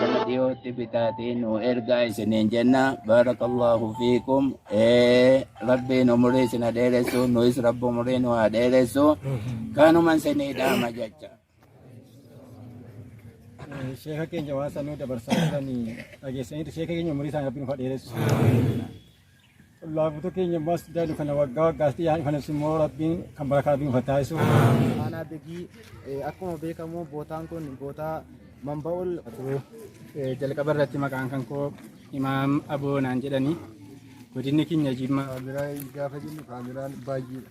Nama dhiyootti bitaatee nu ergaa isiniin jenna. Barakallahu fiikum. Eh, Rabbiin umurii isin haa dheeressu. Nuyis Rabbi umurii nu haa dheeressu. Kanuma isinii dhaama jecha. Sheeka keenya waan sanuu dabarsaa jiran dhageessaniitu sheeka keenya umurii isaanii rabbiin ufa dheeressu. Laafuutu keenya ammas daadhu kana waggaa waggaatti yaa'in kana immoo rabbiin kan barakaa rabbiin ufa taasisu. Aanaa Begii eh, akkuma beekamu bootaan kun bootaa Mamba'ol Eh, jalqaba irratti maqaan kan koo imaam aboo naan jedhani godinni keenya jimma Kaameraan gaafa jennu kaameraan baay'eedha.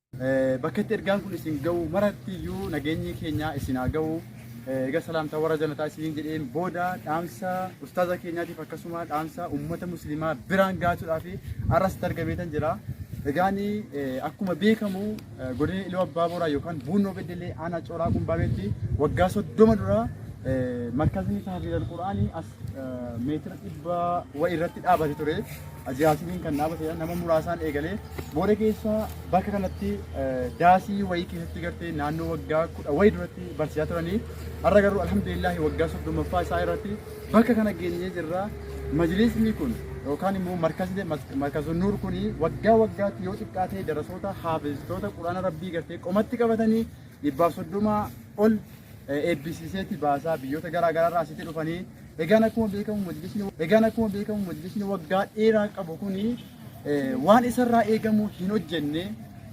Bakka itti ergaan kun isin ga'u maratti iyyuu nageenyi keenya isin haa ga'u. Egaa salaamtaa warra janataa isiniin jedheen booda dhaamsa ustaaza keenyaatiif akkasuma dhaamsa uummata musliimaa biraan gaatuudhaaf arras itti argameetan jira. Egaan akkuma beekamu godina Iluu Abbaa Booraa yookaan Buunnoo Beddellee aanaa Cooraa Qumbaabeetti waggaa soddoma dura markazii tahfiidal Qur'aanii meetira dhibba wa irratti dhaabate ture. Ajaasiin kan dhaabate nama muraasaan eegalee booda keessa bakka kanatti daasii wayii keessatti gartee naannoo waggaa kudha wayii duratti barsiisaa turanii har'a garuu alhamdulillahi waggaa soddomaffaa isaa irratti bakka kana geenyee jirra. Majlisni kun yookaan immoo markazni markazun nuur kun waggaa waggaatti yoo xiqqaatee darasoota haafistoota quraana rabbii gartee qomatti qabatanii dhibbaaf soddoma ol eebbisiiseeti baasaa biyyoota garaa garaarraa asitti dhufanii egaan akkuma beekamu majlisni egaan akkuma beekamu majlisni waggaa dheeraa qabu kun waan isarraa eegamu hin hojjenne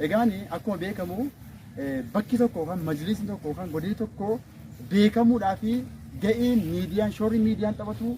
egaan akkuma beekamu bakki tokko yookaan majlisni tokko yookaan godinni tokko beekamuudhaa fi ga'een miidiyaan shoorri miidiyaan taphatu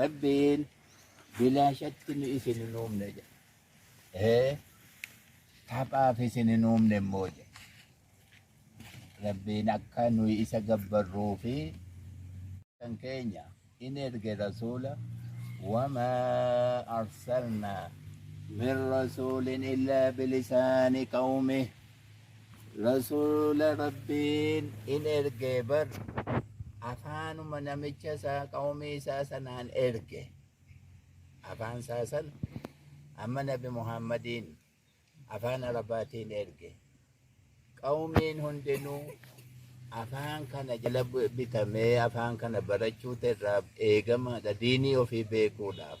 Rabbiin bilaashatti nu isin hin uumne jedhe. Ee, Taphaaf isin hin uumne immoo jedhe. Rabbiin akka nuyi isa gabbarruu fi kan keenya in erge rasuula wamaa arsalnaa min rasuulin illaa bilisaani qawmih Rasuula Rabbiin in erge bar afaanuma namicha isaa qawmii isaa sanaan erge afaan isaa san amma nabi Muhammadiin afaan Arabaatiin erge qawmiin hundinuu afaan kana jala bitamee afaan kana barachuutu irraa eegamaadha diinii ofii beekuudhaaf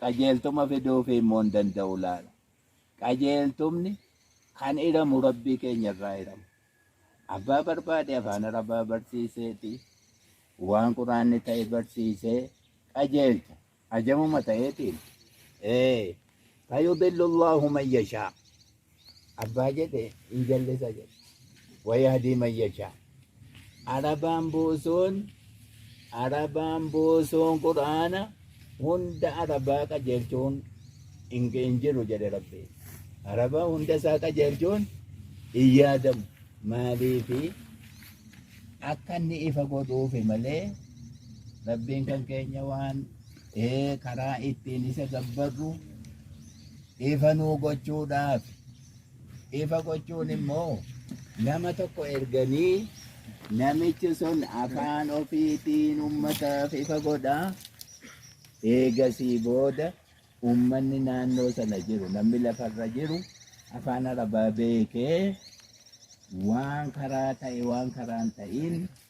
Qajeeltuma fiduufii immoo hin danda'u laata? Qajeeltumni kan hiramu Rabbii keenya irraa hiramu. Abbaa barbaade afaan Arabaa barsiiseeti waan quraanni ta'e barsiisee qajeelcha. Ajamuma ta'eetiin. Ee, fayudillu Allaahu man yashaa. Abbaa jedhe hin jallisa jedhe. Wayahdii man yashaa. Arabaan boosoon Arabaan boosoon Qur'aana hunda Arabaa qajeelchuun hin hin jiru jedhe Rabbi. Arabaa hunda isaa qajeelchuun hin yaadamu. Maaliifi akka inni ifa godhuufi malee Rabbiin kan keenya waan ee karaa ittiin isa gabbarru ifa nuu gochuudhaaf ifa gochuun immoo nama tokko erganii namichi sun afaan ofiitiin ummataaf ifa godha eegasii booda ummanni naannoo sana jiru namni lafarra jiru afaan arabaa beekee waan karaa ta'e waan karaan ta'iin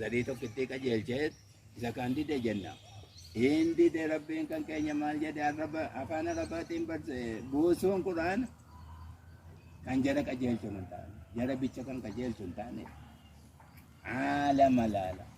zarii tokko itti qajeelchee isa kan dide jenna. Hin dide rabbiin kan keenya maal jedhe arraba afaan arabaatiin barse buusuun quraan kan jara qajeelchu hin taane jara bicha kan qajeelchu hin taane haala malaala.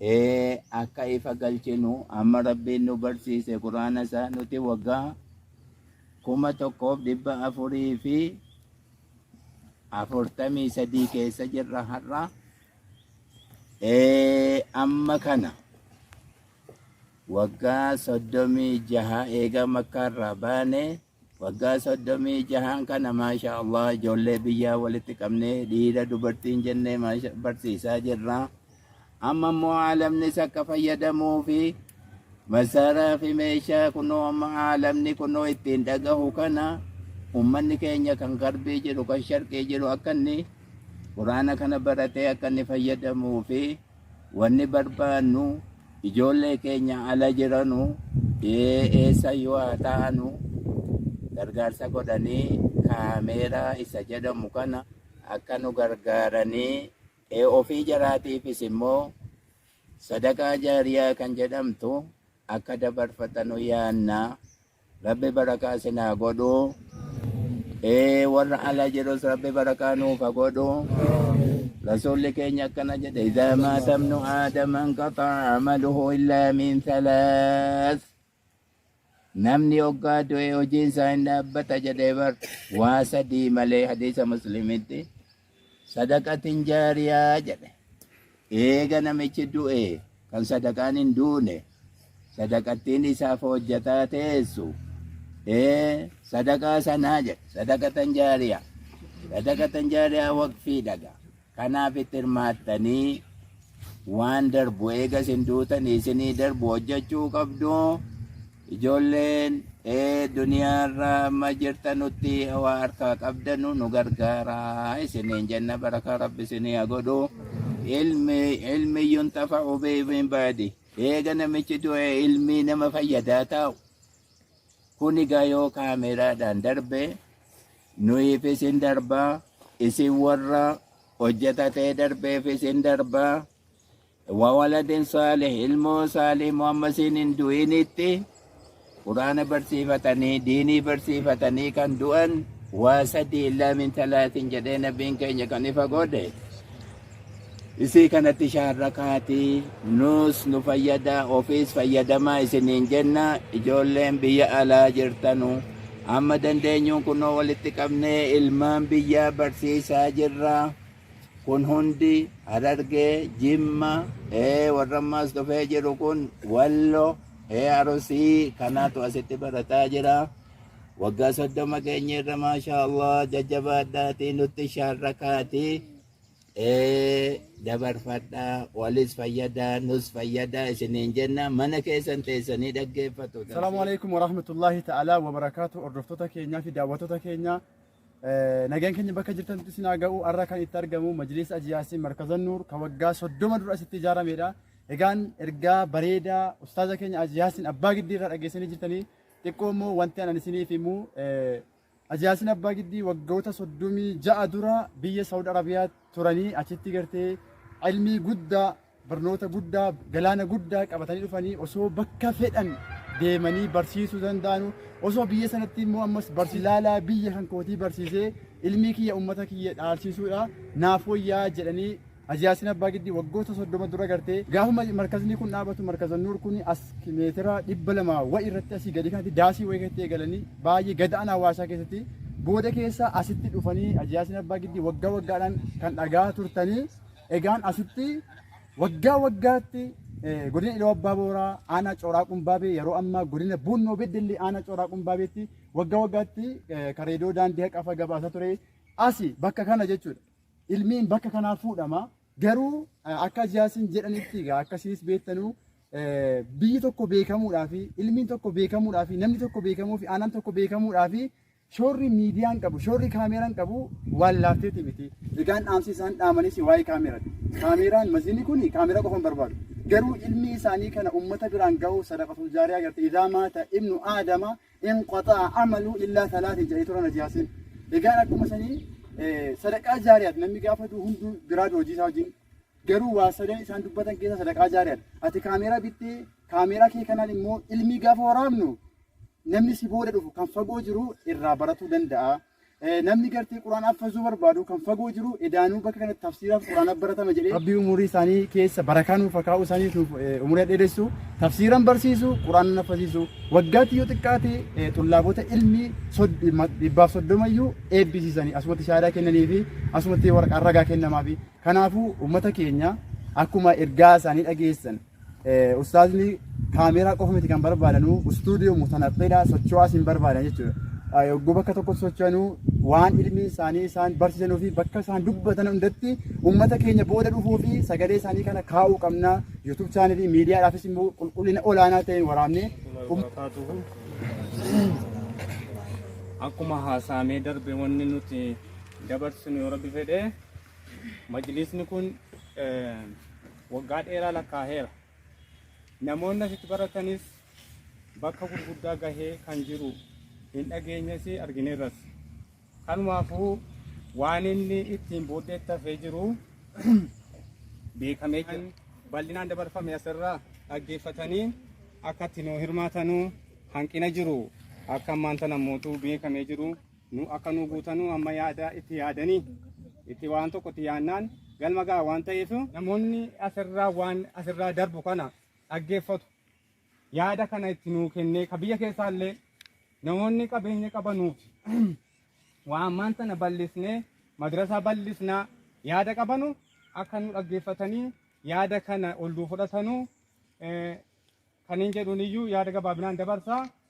Ee akka ifa galchinu amma Rabbiin nu barsiise Qur'aana isaa nuti waggaa kuma tokkoof dhibba afurii fi afurtamii sadii keessa jirra har'a. Ee amma kana waggaa soddomii jaha eega makkaarraa baane Waggaa soddomii jahaan kana maashaa Allah ijoollee biyyaa walitti qabnee dhiira dubartiin jennee maasha- barsiisaa jirra. Amma immoo aalamnis akka fayyadamuu fi masaaraa fi meeshaa kunoo amma aalamni kunoo ittiin dhagahu kana ummanni keenya kan garbii jiru kan sharqii jiru akka inni quraana kana baratee akka inni fayyadamuu fi Wanni barbaannu ijoollee keenya ala jiranu eessayyuu haa ta'anu gargaarsa godhanii kaameeraa isa jedhamu kana akka nu gargaaranii ofii jaraatiifis immoo sadaqaa jaariyaa kan jedhamtu akka dabarfatanu yaanna. Rabbi barakaa isin haa godhu. Ee warra ala jirus rabbi barakaa nuuf haa godhu. Rasuulli keenya akkana jedhe idaa maatamnu aadama inqaxaa amaluhu illaa min thalaas. Namni oggaa du'e hojiin isaa hin dhaabbata jedhee bar waa sadii malee hadiisa muslimitti. Sadaqatin jaariyaa jedhe. Eega namichi du'e kan sadaqaan hin duune sadaqattiin isaaf hojjataa teessu ee sadaqaa sanaa jedhe sadaqatan jaariyaa sadaqatan jaariyaa waqfii dhaga kanaaf itti hirmaattanii waan darbu eega isin duutanii isinii darbu hojjechuu qabdu ijoolleen ee duniyaarra amma jirtanutti waa harkaa qabdanu nu gargaara isiniin jenna barakaa rabbi isinii haa godhu ilmi ilmiyyun tafa ubeebiin baadi eega namichi du'e ilmii nama fayyadaa taa'u Kun egaa yoo kaameeraadhaan darbe nuyiifis hin darba isin warra hojjeta ta'ee darbeefis hin darba wawaladin saalih ilmoo saalih muhammasiin hin du'initti quraana barsiifatanii diinii barsiifatanii kan du'an waa sadii illaa min talaatiin jedhee nabiin keenya kan ifa godhe Isii kanatti shaarra kaatii nuus nu fayyada ofiis fayyadamaa isiniin jenna ijoolleen biyya alaa jirtanu amma dandeenyuun kunoo walitti qabnee ilmaan biyyaa barsiisaa jirra kun hundi harargee jimma ee warrammaas dhufee jiru kun wallo ee arusii kanaatu asitti barataa jira waggaa soddoma keenyerra maashaa allah jajjabaadhaatii nutti shaarra kaatii ee dabarfadha walis fayyada nus fayyada isiniin jenna mana keessan teessanii dhaggeeffatu Salaamu alaikum wa rahmatullahi ta'ala wa barakaatu hordoftoota keenyaa fi daawwattoota keenyaa Eh, nagaan keenya bakka jirtanitti isin haa ga'u har'a kan itti argamu majliisa ajiyaasii markaza nuur kan waggaa soddoma dura asitti ijaaramedha egaan ergaa bareedaa ustaaza keenya ajiyaasiin abbaa giddii irraa dhageessanii jirtanii xiqqoo immoo wanti anan isiniif himu eh, Haji Yaasin Abbaa Giddii waggoota 36 dura biyya Saawud Arabiyaa turanii achitti gartee ilmii guddaa barnoota guddaa galaana guddaa qabatanii dhufanii osoo bakka fedhan deemanii barsiisuu danda'anu osoo biyya sanatti immoo ammas barsi laalaa biyya kan kootii barsiisee ilmii kiyya ummata kiyya dhaalsiisuudha naaf wayyaa jedhanii Haji Yaasin Abbaa Giddii waggoota 30 dura gartee gaafuma markaznii kun dhaabatu markazan nuur kun as meetira 200 wayi irratti asii gadi kanatti daasii wayi keessatti eegalanii baay'ee gada'an hawaasaa keessatti booda keessa asitti dhufanii Haji Yaasin Abbaa Giddii waggaa waggaadhaan kan dhagaa turtanii egaan asitti waggaa waggaatti godina Iluu Abbaa Booraa aanaa Cooraa Qumbaabee yeroo ammaa godina Buunnoo Beddellee aanaa Cooraa Qumbaabeetti waggaa waggaatti kareedoo daandii haqafa gabaasaa ture asi bakka kana jechuudha. Ilmiin bakka kanaa fuudhama. Garuu akka Jaasiin jedhanitti egaa akkasinis beektanuu biyyi tokko beekamuudhaa fi ilmiin tokko beekamuudhaa fi namni tokko beekamuu fi aanaan tokko beekamuudhaa fi shoorri miidiyaan qabu shoorri kaameeraan qabu waan laafteeti miti. Egaan dhaamsi isaan dhaamanis waa'ee kaameeraati. Kaameeraan maziinni kun kaameeraa qofa hin barbaadu. Garuu ilmi isaanii kana uummata biraan ga'uu sadaqatul jaariyaa agartee idaa maata ibnu aadama in qaxa'a amalu illaa salaati ja'ee tura najaasiin. Egaan akkuma sanii sadaqaa jaariyaat namni gaafa duu hunduu biraa duu hojii isaa wajjin garuu waa sadan isaan dubbatan keessa sadaqaa jaariyaat ati kaameeraa bittee kaameeraa kee kanaan immoo ilmii gaafa waraabnu namni si booda dhufu kan fagoo jiru irraa baratuu danda'a. Namni gartee Quraan affazuu barbaadu kan fagoo jiru edaanuu bakka kanatti tafsiiraaf Quraana baratama jedhee Rabbii umurii isaanii keessa barakaa nuuf hakaa'u isaaniif nuuf umurii dheeressu tafsiiran barsiisu Quraana naffasiisu waggaatti yoo xiqqaate xullaabota ilmii dhibbaaf soddomayyuu eebbisiisanii asumatti shaadaa kennanii fi asumatti waraqaan ragaa kennamaafi Kanaafuu uummata keenya akkuma ergaa isaanii dhageessan ustaazni kaameeraa qofa miti kan barbaadanu istuudiyoo mutanaqqeedha socho'aas hin barbaadan jechuudha. Yogguu bakka tokko socho'anuu waan ilmi isaanii isaan barsiisanuu fi bakka isaan dubbatan hundatti uummata keenya booda dhufuu fi sagalee isaanii kana kaa'uu qabna. Yuutuub chaanalii miidiyaadhaafis immoo qulqullina olaanaa ta'een waraabnee akkuma haasaamee darbe wanni nuti dabarsinu yoo rabbi fedhe Majlisni kun waggaa dheeraa lakkaa'eera. Namoonni asitti baratanis bakka gurguddaa gahee kan jiru hin dhageenyes argineerras. Kanumaafuu waan inni ittiin booddee tafee jiru beekamee jira. Bal'inaan dabarfame asirraa dhaggeeffatanii akka itti nu hirmaatanuu hanqina jiru akka ammaan tana mootuu beekamee jiru. nu akka nu guutanuu amma yaada itti yaadanii itti waan tokko itti yaannaan galma ga'a waan ta'eef namoonni asirraa waan asirraa darbu kana dhaggeeffatu yaada kana itti nuu kennee ka biyya keessaa illee namoonni qabeenya qabanuuf waa ammaan sana bal'isnee madrasaa bal'isnaa yaada qabanu akka nu dhaggeeffatanii yaada kana ol nuu fudhatanuu eh, kan hin jedhuun iyyuu yaada gabaabinaan dabarsaa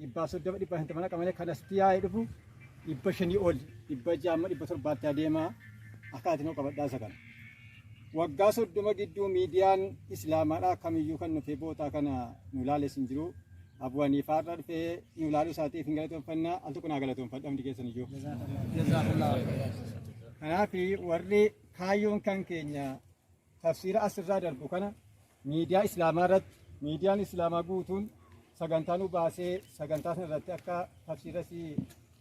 dhibbaaf soddoma dhibba shantama naqa malee kan asitti yaa'ee dhufu dhibba shanii ol dhibba jaamma dhibba torbaatti adeemaa akkaati noo qabadhaa isa kana. Waggaa soddoma gidduu miidiyaan islaamaadhaa kamiyyuu kan dhufee bootaa kana nu ilaales hin jiru. Abu Haniifaa irra dhufee nu ilaaluu isaatiif hin galatoomfannaa al tokko naa galatoomfadha hundi keessan iyyuu. Kanaaf warri kaayyoon kan keenya Tafsiira as irraa darbu kana miidiyaa Islaamaa irratti miidiyaan Islaamaa guutuun sagantaa nu baasee sagantaa sana irratti akka tafsiira si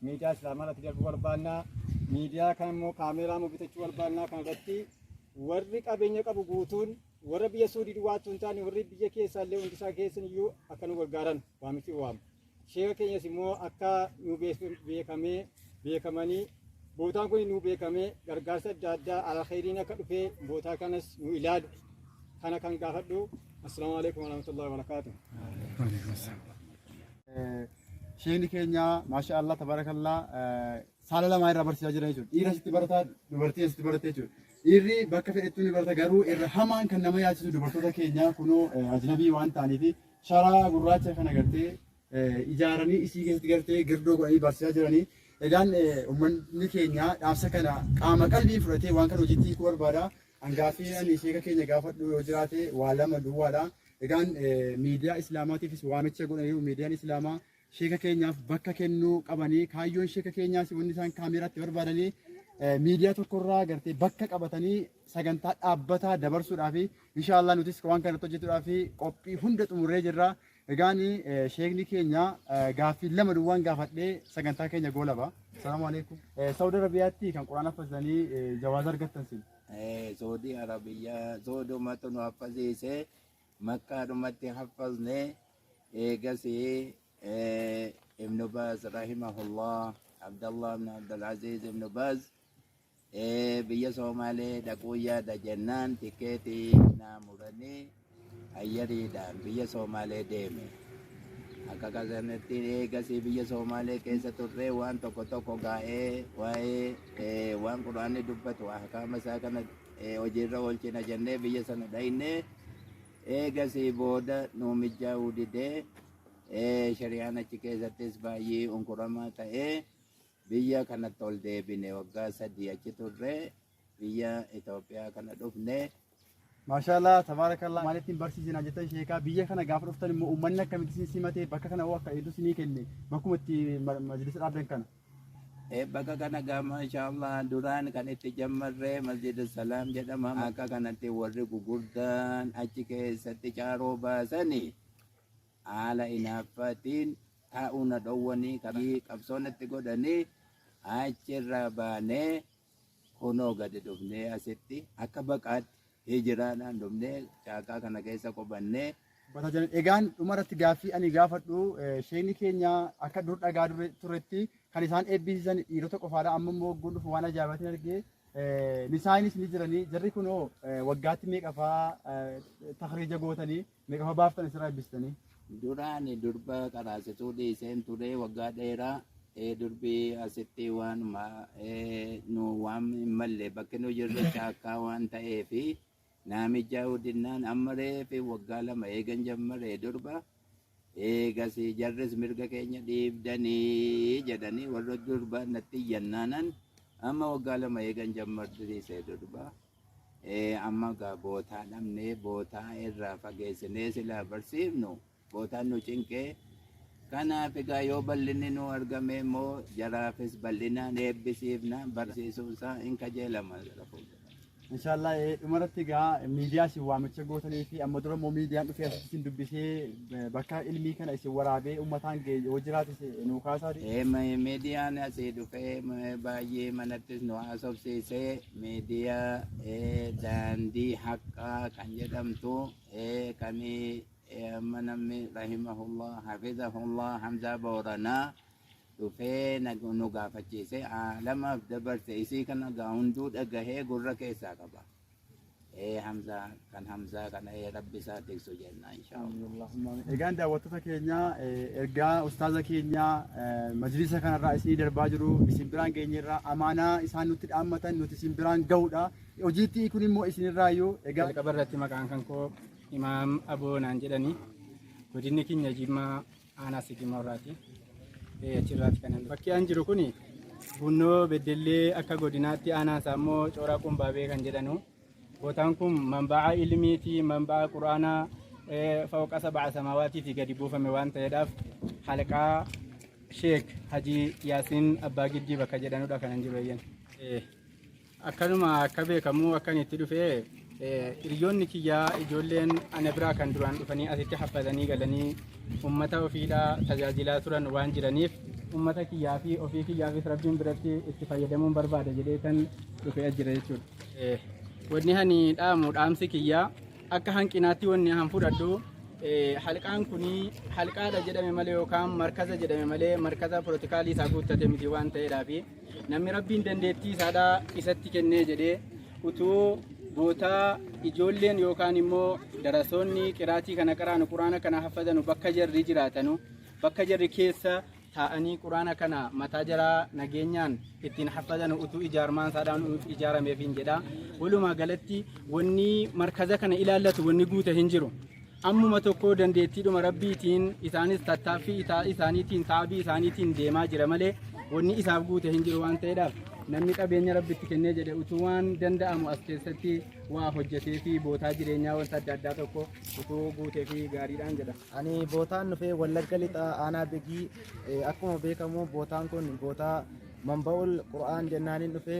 miidiyaa Islaamaa irratti darbu barbaannaa miidiyaa kan immoo kaameeraa immoo bitachuu barbaannaa kan irratti warri qabeenya qabu guutuun warra biyya Suudii duwwaattuu hin taane warri biyya keessaa illee hundisaa keessan iyyuu akka nu gargaaran waamichi waamu. Sheeka keenyas immoo akka nu beekamee beekamanii bootaan kun nu beekamee gargaarsa adda addaa alkhayriin akka dhufee bootaa kanas nu ilaalu kana kan gaafadhu assalaamu alaikum warahmatullahi wabarakaatu. Sheekni keenya maasha Allah tabarakallah saala lamaa irraa barsiisaa jira jechuudha. Dhiira sitti barataa dubartii sitti barattee jechuudha. Dhiirri bakka fedhettuu ni barata garuu irra hamaan kan nama yaachisu dubartoota keenya kunoo ajnabii waan ta'aniif sharaa gurraacha kana gartee ijaaranii isii keessatti gartee girdoo godhanii barsiisaa jiranii. Egaan uummanni keenya dhaamsa kana qaama qalbii fudhatee waan kana hojiitti hiikuu barbaada. Angaaffii ani sheeka keenya gaafadhu yoo jiraate waa lama duwwaadha. Egaan miidiyaa islaamaatiifis waamicha godhaniiru miidiyaan islaamaa sheeka keenyaaf bakka kennuu qabanii kaayyoon sheeka keenyaas wanni isaan kaameeraatti barbaadanii eh, miidiyaa tokkorraa gartee bakka qabatanii sagantaa dhaabbataa dabarsuudhaaf inshaallah nutis waan kana irratti hojjetuudhaaf qophii hunda xumurree jirra. Egaan eh, sheekni keenya eh, gaaffii lama duwwaan gaafadhee sagantaa keenya goolaba. Salaamu alaikum. Eh, Saudi Arabiyaatti kan Quraan haffazanii eh, jawaaza argattan sin. Eh, Saudi Arabia, Saudi Matunu Afazise, Makkaadhumatti haffazne eegasi ibnu baaz rahimahullah abdallah ibnu abdulaziiz ibnu baaz biyya soomaalee dhaquu yaada jennaan tikeetii naa muranii ayyariidhaan biyya soomaalee deeme akka kasanatti eegasii biyya soomaalee keessa turree waan tokko tokko gaa'ee waa'ee waan quraanni dubbatu ahkaama isaa kana hojiirra oolchina jennee biyya sana dhayne eegasii booda nuu mijaa'uu didee shari'aan achi keessattis baay'ee unkuramaa ta'ee biyya kanatti ol deebine waggaa sadii achi turre biyya Itoophiyaa kana dhufne. Maashaallah tabaarakallah maalittiin barsiisina jettan sheekaa biyya kana gaafa dhuftan immoo uummanni akkamitti isin simatee bakka kana hoo akka eedu isinii kenne bakkuma itti majlisa dhaabdan kana. Baga kana gaa maashaallah duraan kan itti jammarre masjida salaam jedhama akka kanatti warri gugurdaan achi keessatti caaroo baasani haala inaaffaatiin taa'uu na dhowwanii qabsoon itti godhanii achirraa baanee Kunoo gadi dhufnee asitti akka baqaatti hijiraadhaan dhufnee caakkaa kana keessa qubannee Bata jiran. Egaan dhuma irratti gaaffii ani gaafadhu eh, sheekni keenya akka dur dhagaa dure- turetti kan isaan eebbisiisan dhiirota qofaadha. Amma immoo ogguun dhufu waan ajaa'ibaatiin argee eh, nisaanis ni jiranii. Jarri kunoo eh, waggaatti meeqafaa eh, takriija gootanii Meeqa fa baaftan isirraa ebbistanii? Duraan durba qaraasituu dhiiseen ture waggaa dheeraa ee durbi asitti waanuma ee, nu waan hin malle bakki nu jirru caakkaa waan ta'eef naamijaa hudinnaan amma reefi waggaa lama eegan jammare durba eegas jarris mirga keenya dhiibdanii jedhanii warra durba natti iyyannaanan amma waggaa lama eegan jammartise durba. Ee amma gaa bootaa dhabnee bootaa irraa fageessinee silaa barsiifnu bootaan nu cinqee kanaaf egaa yoo bal'inni nu argame immoo jaraafis bal'inaan eebbisiifna barsiisuun isaa hin kajeelama gara fuuldura. Inshaallah eh, dhumarratti egaa miidiyaa isin waamicha gootanii fi amma dura immoo miidiyaan dhufee asitti isin dubbisee eh, bakka ilmii kana isin waraabee uummataan ga'e yoo jiraatis eh, nuu kaasaa Ee, ma- miidiyaan asii dhufee ma- baay'ee manattis nu haasofsiisee Media daandii haqqaa kan jedhamtu kan amma namni rahimahullah hafizahullah hamzaa booranaa dhufee nu gaafachiise aalamaaf dabarse isii kana gaa hunduu dhagahee gurra keessaa qaba. ee hamzaa kan hamzaa kana ee rabbi isaa tiksu jenna inshaa Allah. Egaan daawwattoota keenya eh, ergaa ustaaza keenya eh, majlisa kanarraa isinii darbaa jiru isin biraan geenyerraa amaanaa isaan nutti dhaammatan nuti isin biraan ga'uudha. Hojiitti kun immoo isinirraa iyyuu egaa Jalqaba irratti maqaan kan koo Imaam Aboo naan jedhani. Godinni keenya Jimmaa aanaa Sigimoo irraati. Achirraati kanan bakki an jiru kun Bunnoo Beddellee akka godinaatti aanaan isaa immoo Cooraa Qumbaabee kan jedhanu. Bootaan kun manba'a ilmii fi manba'a quraanaa fawqa saba'a samaawaatii fi gadi buufame waan ta'eedhaaf halqaa Sheek Hajii Yaasiin Abbaa Giddii bakka jedhanudha kanan jiru eeyyan. Akkanuma akka beekamu akkan itti dhufe hiriyoonni kiyyaa ijoolleen ana biraa kan duraan dhufanii asitti haffatanii galanii uummata ofiidhaa tajaajilaa turan waan jiraniif uummata kiyyaa fi ofii kiyyaafis rabbiin biratti itti fayyadamuun barbaada jedhee kan dhufe as jira jechuudha. Wanni ani dhaamu dhaamsi kiyyaa akka hanqinaatti wanni an fudhadhu halqaan kun halqaadha jedhame malee yookaan markaza jedhame malee markaza pirootikaalii isaa guuttate miti waan ta'eedhaafi. Namni Rabbiin dandeettii isaadhaa isatti kennee jedhee utuu bootaa ijoolleen yookaan immoo darasoonni qiraatii kana qaraanu quraana kana haffazanu bakka jarri jiraatanu bakka jarri keessa taa'anii quraana kana mataa jaraa nageenyaan ittiin haffazanu utuu ijaarmaan isaadhaan ijaarameefiin jedha. Walumaa galatti wanni markaza kana ilaallatu wanni guute hin jiru. Ammuma tokko dandeettiidhuma Rabbiitiin isaanis tattaaffii isaa isaaniitiin taabii isaaniitiin deemaa jira malee wanni isaaf guute hin jiru waan ta'eedhaaf namni qabeenya Rabbitti kennee jedhe utuu waan danda'amu as keessatti waa hojjetee fi bootaa jireenyaa wanta adda addaa tokko utuu guutee fi gaariidhaan jedha. Ani bootaan dhufee Wallagga Lixaa Aanaa Begii eh, akkuma beekamu bootaan kun bootaa Manba'ul Qur'aan jennaaniin dhufee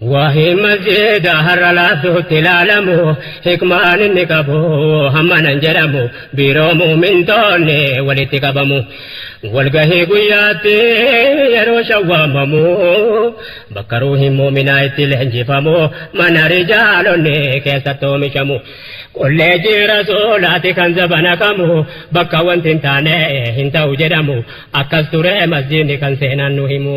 Waa'een masjiida har'a laaftuutti ilaalamu hikmaan inni qabu hammana hin jedhamu biiroo mu'mintoonni walitti qabamu walgahii guyyaatti yeroo shan waamamu bakka ruuhiin mu'minaa itti leenjifamu mana rijaalonni keessatti oomishamu kolleejjii rasuulaati kan zabana kamu bakka wanti hin taane hin ta'u jedhamu akkas ture masjiidni kan seenaan nu himu.